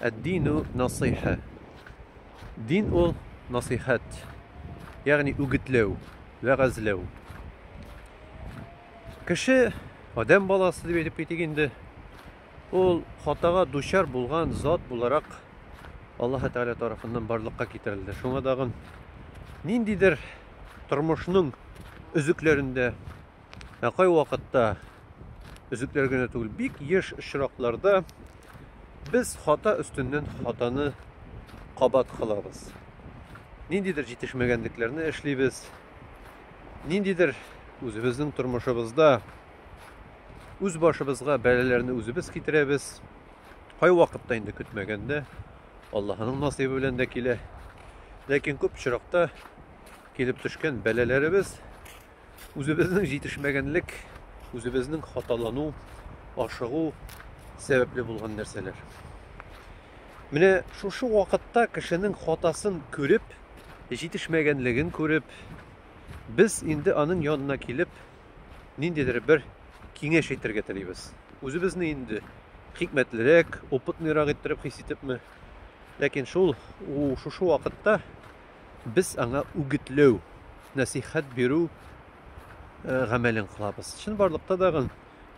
Әддину насыйха. Дин ул насыйхәт. Ягъни үгетләү, вәгазьләү. Кеше, адәм баласы дип әйтеп китик инде, ул хатага дучар булган зат буларак Аллаһ Тәгалә тарафыннан барлыкка китерелде. Шуңа дагын ниндидер тормышның өзекләрендә Ә кайвакытта өзекләр генә түгел, бик еш очракларда без хата өстеннән хатаны кабат кылабыз. Ниндидер җитешмәгәнлекләрне эшлибез. Ниндидер үзебезнең тормышыбызда үз башыбызга бәлаләрне үзебез китерәбез. Кайвакытта инде көтмәгәндә Аллаһының насыйбы белән дә килә. Ләкин күп очракта килеп төшкән бәлаләребез Үзебезнең җитешмәгәнлек, үзебезнең хаталану, ашыгу сәбәпле булган нәрсәләр. Менә шушы вакытта кешенең хатасын күреп, җитешмәгәнлеген күреп, без инде аның янына килеп, ниндидер бер киңәш әйтергә телибез. Үзебезне инде хикмәтлерәк, опытныйрак иттереп хис итепме, ләкин шул шушы вакытта Без аңа үгетләү, нәсыйхәт бирү гамәлен кылабыз. Чынбарлыкта дагы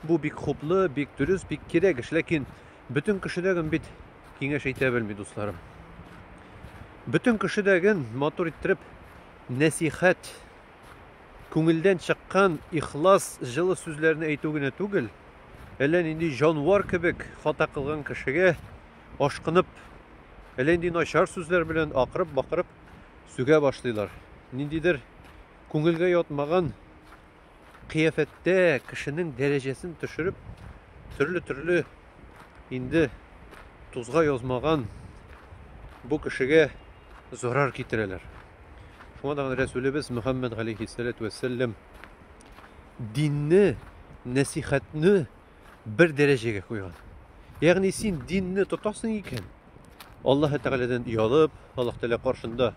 бу бик хуплы, бик дөрес, бик кирәк эш, ләкин бөтен кешедәген бит киңәш әйтә белми, дусларым. Бөтен кешедәген матур иттереп нәсихәт, күңелдән чыккан ихлас, җылы сүзләрне әйтү генә түгел, әллә нинди җанвар кебек хата кылган кешегә ашкынып, әллә нинди начар сүзләр белән акырып-бакырып сүгә башлыйлар. Ниндидер күңелгә ятмаган кыяфәттә кешенең дәрәҗәсен төшереп, төрле-төрле инде тузга язмаган бу кешегә зарар китерәләр. Шуңа да Рәсүлебез Мөхәммәд галәйһиссәләтү вәссәлам динне, нәсихәтне бер дәрәҗәгә куйган. Ягъни син динне тотасың икән, Аллаһ Тәгаләдән ялып, Аллаһ Тәгалә каршында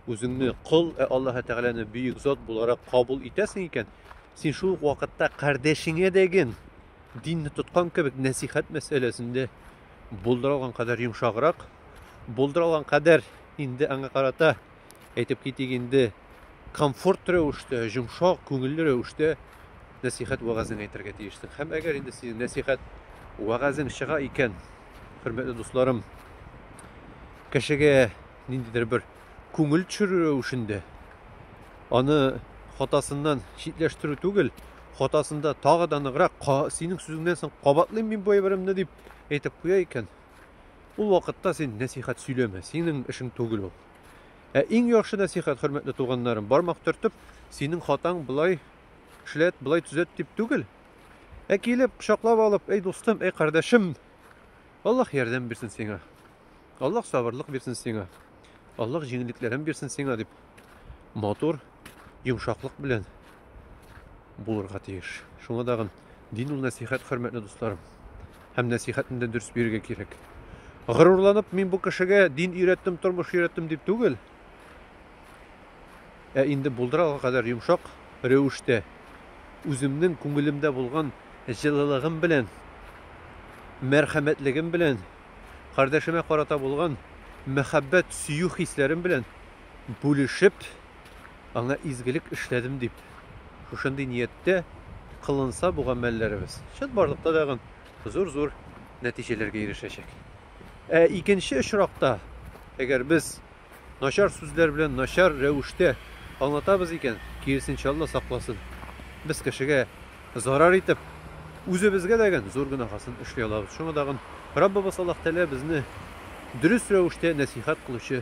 үзеңне кол, ә Аллаһ Тәгаләне бөек зат буларак кабул итәсең икән, син шул ук вакытта кардәшеңә дәген динне тоткан кебек нәсихәт мәсьәләсендә булдыра алган кадәр йомшаграк, булдыра алган кадәр инде аңа карата әйтеп китик инде, комфорт рәвештә, йомшак, күңелле рәвештә нәсихәт вәгазең әйтергә тиешсең. Һәм әгәр инде синең нәсихәт вәгазең чыга икән, хөрмәтле дусларым, кешегә ниндидер бер күңел төшерү рәвешендә аны хатасыннан читләштерү түгел, хатасында тагы да ныграк, синең сүзеңнән соң кабатлыйм мин бу әйберемне дип әйтеп куя икән, ул вакытта син нәсихәт сөйләмә, синең эшең түгел ул. Ә иң яхшы нәсыйхәт, хөрмәтле туганнарым, бармак төртеп, синең хатаң болай эшләт, болай төзәт дип түгел. Ә килеп, кочаклап алып, әй дустым, әй кардәшем, Аллаһ ярдәм бирсен сиңа. Аллаһ сабырлык бирсен сиңа. Аллаһ җиңеллекләрен бирсен сиңа дип матур йомшаклык белән булырга тиеш. Шуңа дагын дин ул нәсихәт, хөрмәтле дусларым. Һәм нәсихәтне дә дөрес бирергә кирәк. Горурланып, мин бу кешегә дин өйрәттем, тормыш өйрәттем дип түгел. Ә инде булдыралга кадәр йомшак рәвештә үземнең күңелемдә булган җылылыгым белән, мәрхәмәтлегем белән, кардәшемә карата булган мәхәббәт, сөю хисләрем белән бүлешеп, аңа изгелек эшләдем дип, шушындый нияттә кылынса бу гамәлләребез, чынбарлыкта тагын зур-зур нәтиҗәләргә ирешәчәк. Ә икенче очракта, әгәр без начар сүзләр белән начар рәвештә аңлатабыз икән, киресенчә Алла сакласын, без кешегә зарар итеп, үзебезгә дәген зур гөнаһасын эшли алабыз. Шуңа дагын Раббыбыз Аллаһ Тәгалә безне дөрес рәвештә нәсыйхәт кылучы